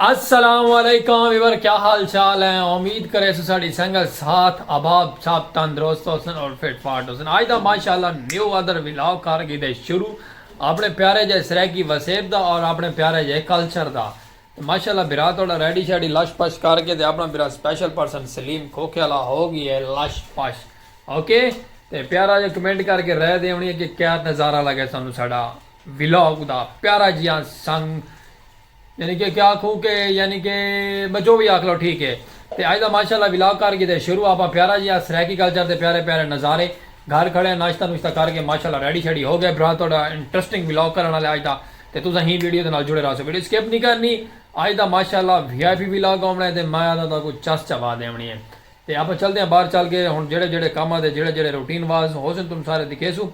السلام علیکم ویور کیا حال چال ہیں امید کریسوں ساڑی سنگت ساتھ اباب سب تندرست ہوسن اور فٹ فاٹ ہوسن آج دا ماشاءاللہ نیو ادر ولاگ کر گئی دے شروع اپنے پیارے جے سریکی وسیب دا اور اپنے پیارے جے کلچر دا ماشاءاللہ برا توڑا ریڈی شیڈی لش پش کر کے دے اپنا برا سپیشل پرسن سلیم کھوکھے اللہ ہو گئی ہے لش پش اوکے تے پیارا جے کمنٹ کر کے رہ دے ہونی ہے کہ کیا نظارہ لگے سانو ساڑا ولاگ دا پیارا جیاں سنگ یعنی کہ کیا آکھوں کہ یعنی کہ میں جو وی آکھ لو ٹھیک ہے تے اج دا ماشاء اللہ ولاگ کر گھدے شروع آپاں پیارا جیہا سرائیکی کلچر دے پیارے پیارے نظارے گھل کھڑے ہیں ناشتہ نوشتہ کر کے ماشاء اللہ ریڈی شیڈی ہو گئے برا تہاڈا انٹرسٹنگ ولاگ کرن آلے اج دا تے تساں ہی ویڈیو دے نال جڑے رہسو ویڈیو سکپ نی کرنی اج دا ماشاء اللہ وی آئی پی ولاگ ہووݨا ہے تے مایا دا تہاکوں چس چوا ݙیوݨی ہے تے آپاں چلدے ہاں باہر چل کے ہن جیہڑے جیہڑے کم آ تے جیہڑے جیہڑے روٹین واز ہوسن تم سارے دکھیسوں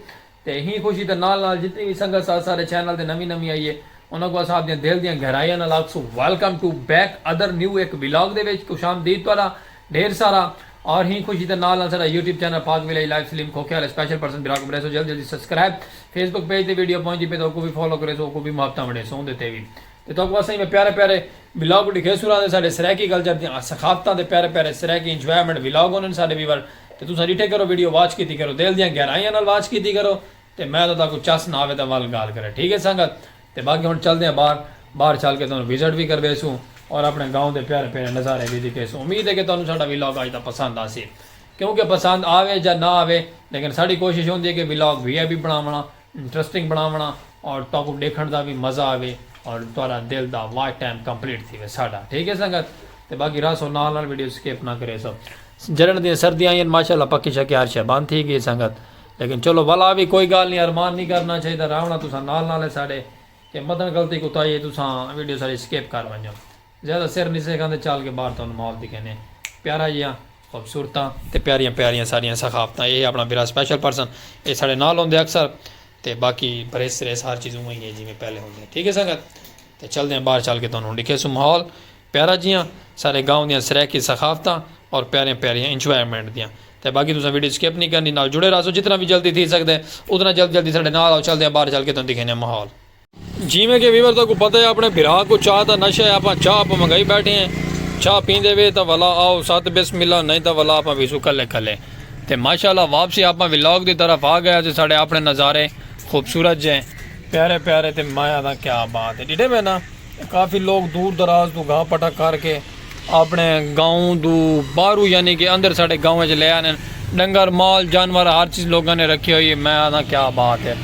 تے ایں خوشی دے نال نال جتنی وی سنگت سا ساڈے چینل تے نویں نویں آئی اے انہاں کوں اساں آپدیاں دل دیاں گہرائیاں نال آکھسوں welcome to back other new اک ولاگ دے وچ خوش آمدید تہاڈا ڈھیر سارا اور ایں خوشی دے نال نال ساڈا یوٹیوب چینل پاک ویلائی لائف سلیم کھوکھے آلے سپیشل پرسن بھرا کوں کریسوں جلد جلدی سبسکرائب فیس بک پیج تے ویڈیو پہنچدی پئے تاں اوکوں وی فالو کریسوں اوکوں وی محبتاں ونڈیسوں اوندے تے وی تے تہاکوں اساں ایویں پیارے پیارے ولاگ ڈکھیسوں راہندے ساڈے سرائیکی کلچر دیاں ثقافتاں دے پیارے پیارے سرائیکی انجوائمنٹ ولاگ ہونن ساڈے ویور تے تساں ڈٹھے کرو ویڈیو واچ کیتی کرو دل دیاں گہرائیاں نال واچ کیتی کرو تے میں تاں تہاکوں چس نہ آوے تاں ول گال کرے ٹھیک ہے سنگت تے باقی ہن چلدے ہیں باہر باہر چل کے تہانوں وزٹ وی کرویسوں اور اپنے گاؤں دے پیارے پیارے نظارے وی دکھیسوں امید ہے کہ تہانوں ساڈا ولاگ اج دا پسند آسی کیونکہ پسند آوے جا نہ آوے لیکن ساڈی کوشش ہوندی ہے کہ ولاگ وی آئی پی بناونڑاں انٹرسٹنگ بناونڑاں اور تہاکوں ڈیکھنڑ دا وی مزہ آوے اور تہاڈا دل دا واچ ٹائم کمپلیٹ تھیوے ساڈا ٹھیک ہے سنگت تے باقی رہسو نال نال ویڈیو سکپ نہ کریسو جلن دیاں سردیاں آئیاں ماشاءاللہ پکے شکے ہر شے بند تھی گئی سنگت لیکن چلو ولا وی کوئی گال نی ارمان نی کرنا چاہیدا رہونڑاں تساں نال نال ہے ساڈے تے مدن غلطی کوتاہی ہے تساں ویڈیو ساڈی سکپ کر ونجو زیادہ سر نی سیکھاں تے چل کے باہر تہانوں مال دکھینے پیارا جیاں خوبصورتاں تے پیاریاں پیاریاں ساڈیاں ثقافتاں ایہہ اپنا برا سپیشل پرسن ایہہ ساڈے نال ہوندے اکثر تے باقی بریس سریس ہر چیز اونویں ہی ہے جیویں پہلے ہوندے ٹھیک ہے سنگت تے چلدے ہیں باہر چل کے تہانوں ہن ڈکھیسوں ماحول پیارا جیاں ساڈے گاؤں دیاں سرائیکی ثقافتاں اور پیاریاں پیاریاں انجوائمنٹ دیاں تے باقی تساں ویڈیو سکپ نی کرنی نال جڑے راہسو جتنا وی جلدی تھی سکدے اتنا جلدی جلدی ساڈے نال آؤ چلدے ہیں باہر چل کے تہانوں دکھینے ہیں ماحول۔ جیویں کہ ویور تہاکوں پتہ ہے اپݨے بھرا کوں چاہ دا نشہ ہے آپاں چاہ اپاں منگائی بیٹھے ہیں چاہ پیندے وے تاں ولا آؤ ست بسم اللہ نئیں تاں ولا آپاں ویسوں کلھے کلھے تے ماشاء اللہ واپسی آپاں ولاگ دی طرف آ گئے ہاسی ساڈے اپݨے نظارے خوبصورت جئیں پیارے پیارے تے میں آدھاں کیا بات ہے ڈیڈھے میں نا کافی لوگ دور دراز توں گھاہ پٹا کر کے اپݨے گاؤں توں باہروں یعنی کہ اندر ساݙے گاؤں اچ لے آندن ݙنگر مال جانور ہر چیز لوکاں نے رکھی ہوئی ہے میں آکھداں کیا بات ہے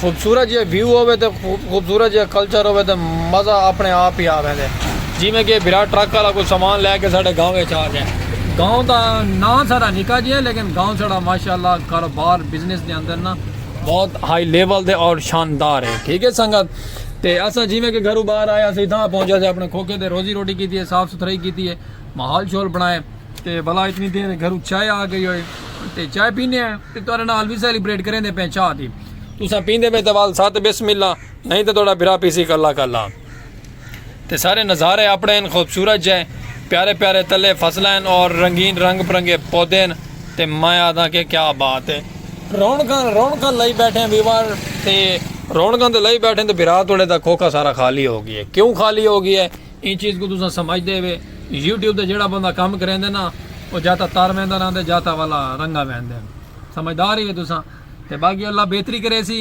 خوبصورت جیہا ویو ہووے تے خوبصورت جیہا کلچر ہووے تے مزہ اپݨے آپ ہی آ ویندے جیویں کہ بھرا ٹرک والا کوئی سامان لے کے ساݙے گاؤں اچ آ ڳئے گاؤں دا ناں ساݙا نکا جیہا ہے لیکن گاؤں ساݙا ماشاءاللہ کاروبار بزنس دے اندر نا بہت ہائی لیول تے اور شاندار ہے ٹھیک ہے سنگت۔ تے اساں جیویں کہ گھروں باہر آئے ہاسے اتھاں پہنچ ہاسے اپنے کھوکھے تے روزی روٹی کیتی ہے صاف ستھرائی کیتی ہے ماحول شول بنائے تے بھلا اتنی دیر گھروں چائے آ گئی ہوئے تے چائے پینے ہیں تے تہاڈے نال وی سیلیبریٹ کریں دے پئے چاہ دی تساں پیندے پئے تے وال ساتھ بسم اللہ نہیں تے تہاڈا بھرا پیسی کلا کلا۔ تے سارے نظارے اپڑے ہن خوبصورت جئے پیارے پیارے تلے فصلاں ہن اور رنگین رنگ برنگے پودے ہن تے میں آدھاں کہ کیا بات ہے رونقاں رونقاں لئی بیٹھے ہیں ویور تے رونقاں تے لئی بیٹھے ہیں تے بھرا توڑے دا کھوکھا سارا خالی ہو گیا ہے کیوں خالی ہو گیا ہے ایں چیز کوں تساں سمجھ دے ہوے یوٹیوب تے جیڑا بندہ کم کریندے نا او جا تاں تر ویندا رہندے جا تاں والا رنگا ویندے ہن سمجھدار ہی ہو تساں تے باقی اللہ بہتری کریسی۔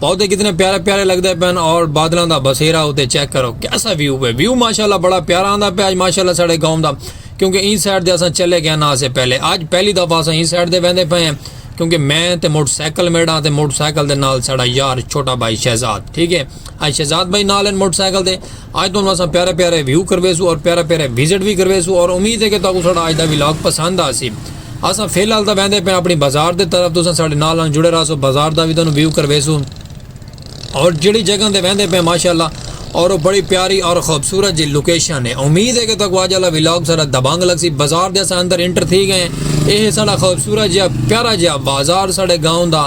پودے کتنے پیارے پیارے لگدے پین اور بادلاں دا بسیرا ہوتے چیک کرو کیسا ویو پہ ویو ماشاءاللہ بڑا پیارا آندا پہ آج ماشاءاللہ ساڑے گاؤں دا کیونکہ این سائیڈ دے اساں چلے گئے نا سے پہلے آج پہلی دفعہ اساں این سائیڈ دے ویندے پے ہیں کیونکہ میں تے موٹر سائیکل میڑا تے موٹر سائیکل دے نال ساڑا یار چھوٹا بھائی شہزاد ٹھیک ہے آج شہزاد بھائی نال ہیں موٹر سائیکل دے آج تو اساں پیارے پیارے ویو کروے سو اور پیارے پیارے وزٹ بھی کروے سو اور امید ہے کہ تاکو ساڑا آج دا ولاگ پسند آ سی اساں فی الحال تاں ویندے پئے اپنی بازار دے طرف تساں ساڈے نال نال جڑے رہسو بازار دا وی تانوں ویو کرویسوں اور جڑی جگہ تے ویندے پئے ماشاءاللہ اور وہ بڑی پیاری اور خوبصورت جی لوکیشن ہے امید ہے کہ تک واج والا ولاگ سارا دبانگ لگ سی بازار دے اساں اندر انٹر تھی گئے اے ہے ساڈا خوبصورت جہا پیارا جہا بازار ساڈے گاؤں دا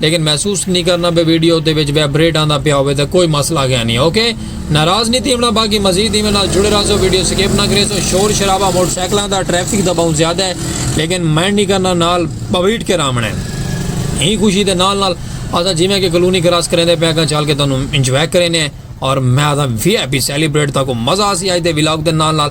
لیکن محسوس نی کرنا بے ویڈیو دے وچ ویبریٹ آندا پیا ہوے تے کوئی مسئلہ گیا نی اوکے ناراض نی تھیونا باقی مزید ایویں نال جڑے رہزو ویڈیو سکپ نہ کریسو شور شرابہ موٹر سائیکلاں دا ٹریفک دا بہوں زیادہ ہے لیکن مائنڈ نی کرنا نال بویٹ کے رامن ہے ہی خوشی دے نال نال اسا جیویں کہ کلونی کراس کریں دے پیا گا چل کے تانوں انجوائے کریں اور میں اسا وی ہیپی سیلیبریٹ تاکو مزہ آسی آئی دے ولاگ دے نال نال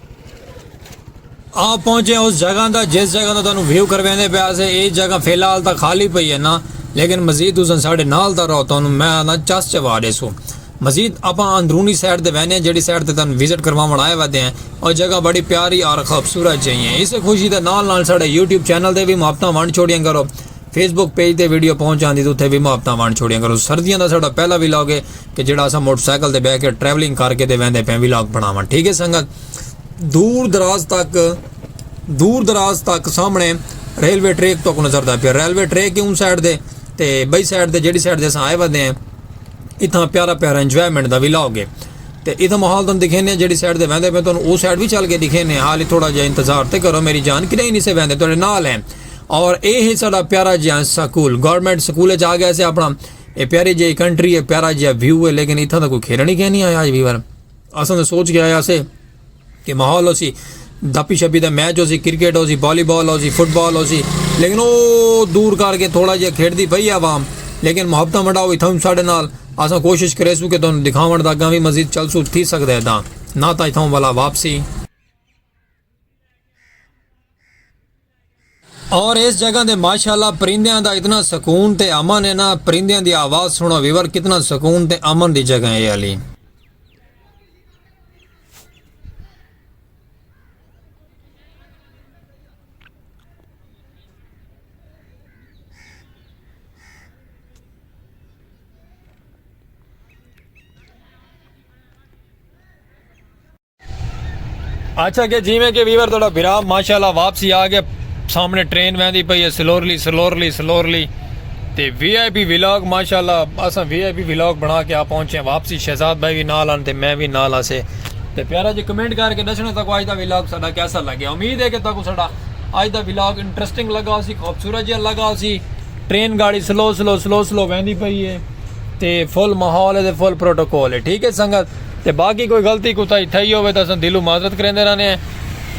آپ پہنچے اس جگہ دا جس جگہ دا تانوں ویو کروے دے پیا سے اے جگہ فی الحال تا خالی پئی ہے نا لیکن مزید تساں ساڈے نال تا رہو تانوں میں آنا چس چوا ڈیسو مزید اپاں اندرونی سائٹ تے وینے جیڑی سائٹ تے تانوں وزٹ کرواون آئے ودے ہیں او جگہ بڑی پیاری اور خوبصورت جئی ہیں اسے خوشی دے نال نال ساڈے یوٹیوب چینل تے بھی محبتاں ونڈ چھوڑیاں کرو فیس بک پیج تے ویڈیو پہنچ آندی تو تھے بھی محبتاں ونڈ چھوڑیاں کرو سردیاں دا ساڈا پہلا ویلاگ ہے کہ جیڑا اساں موٹر سائیکل تے بہ کے ٹریولنگ کر کے دے ویندے پیں ولاگ بناواں ٹھیک ہے سنگت دور دراز تک دور دراز تک سامنے ریلوے ٹریک تک نظر دا پیا ریلوے ٹریک ہی ان سائڈ دے تے بئی سائڈ دے جیڑی سائڈ دے اساں آئے ودے ہیں اتنا پیارا پیارا انجوائمنٹ دا ولاگ ہے تے اتنا ماحول تن دکھینے جیڑی سائڈ دے ویندے پہ تن او سائڈ بھی چل کے دکھینے حالی تھوڑا جا انتظار تے کرو میری جان کہ نہیں سے ویندے تو نال ہیں اور اے ہے سارا پیارا جہاں سکول گورنمنٹ سکول جا گیا سے اپنا اے پیاری جیئی کنٹری ہے پیارا جیا ویو ہے لیکن اتھاں دا کوئی کھیرا نہیں کہنی آیا آج ویور اساں تو سوچ کے آیا سے کہ ماحول ہو سی دپی شپی دا میچ ہو سی کرکٹ ہو سی والی بال ہو سی فٹ بال ہو سی لیکن او دور کر کے تھوڑا جہا کھیڑ دی پئی عوام لیکن محبتہ منڈا ہوئی تھاں ساڑھے نال اساں کوشش کرے سو کہ تم دکھاون دا گاں بھی مزید چل سو تھی سکتا ہے دا نہ تا اتھاں والا واپسی اور اس جگہ دے ماشاءاللہ پرندیاں دا اتنا سکون تے امن ہے نا پرندیاں دی آواز سنو ویور کتنا سکون تے امن دی جگہ ہے علی اچھا کہ جیویں کہ ویور تھوڑا بھرا ماشاءاللہ واپسی آ گیا سامنے ٹرین ویندی پئی ہے سلورلی سلورلی سلورلی تے وی آئی پی ولاگ ماشاءاللہ اساں وی آئی پی ولاگ بنا کے آ پہنچے ہیں واپسی شہزاد بھائی بھی نال آن تے میں بھی نال آسے تے پیارا جی کمنٹ کر کے دسنا تاکو آج دا ولاگ ساڈا کیسا لگے امید ہے کہ تاکو ساڈا آج دا ولاگ انٹرسٹنگ لگا ہو سی خوبصورت جہاں لگا ہو سی ٹرین گاڑی سلو سلو سلو سلو ویندی پئی ہے تے فل ماحول ہے تے فل پروٹوکول ہے ٹھیک ہے سنگت تے باقی کوئی غلطی کوتاہی تھئی ہووے تاں اساں دلوں معذرت کریندے رہنے ہیں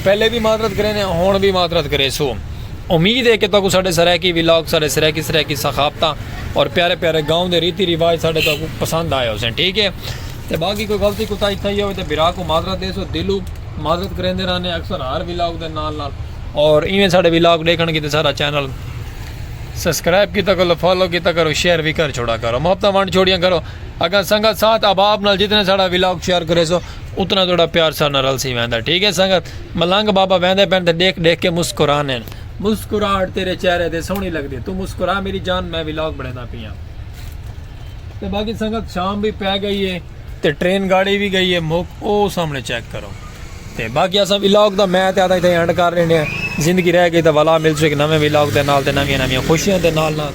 پہلے وی معذرت کریندے ہیں ہنڑ وی معذرت کریسوں امید ہے کہ تہاکوں ساڈے سرائیکی ولاگ ساڈے سرائیکی سرائیکی ثقافتاں اور پیارے پیارے گاؤں دے ریتی رواج ساڈے تہاکوں پسند آئے ہوسن ٹھیک ہے تے باقی کوئی غلطی کوتاہی تھئی ہووے تاں بھرا کوں معذرت دیسوں دلوں معذرت کریندے رہنے اکثر ہر ولاگ دے نال نال اور ایویں ساڈے ولاگ ڈیکھنڑ کیتے ساڈا چینل سبسکرائب کیتا کرو فالو کیتا کرو شیئر وی کر چھوڑا کرو محبتاں ونڈ چھوڑیاں کرو اگر سنگت ساتھ احباب نال جتنے ساڑا ولاگ شیئر کریسو اتنا تہاڈا پیار ساڈے نال رلسی ویندا ٹھیک ہے سنگت ملنگ بابا ویندے پن تے ڈیکھ ڈیکھ کے مسکرانے ہن مسکراہٹ تیرے چہرے تے سوہنی لگدی تو مسکرا میری جان میں ولاگ بنڑیندا پیاں تے باقی سنگت شام وی پے گئی ہے تے ٹرین گاڑی وی گئی ہے موک او سامنے چیک کرو تے باقی اساں ولاگ دا میں تے آدھا اتھے اینڈ کر رہنے ہیں زندگی رہ گئی تے والا مل سو ایک نویں ولاگ دے نال تے نویاں نویاں خوشیاں دے نال نال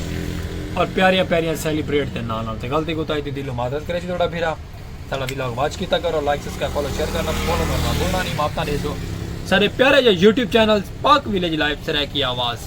اور پیاریاں پیاریاں سیلیبریٹ دے نال نال تے غلطی کو تائی دی دلوں معذرت کرے جی تھوڑا بھیرا ساڑا ولاگ واچ کیتا کرو لائک سبسکرائب فالو شیئر کرنا فالو کرنا بھولنا نہیں ماپتا دے سو سارے پیارے جو YouTube channel Pak village life سرائے کی آواز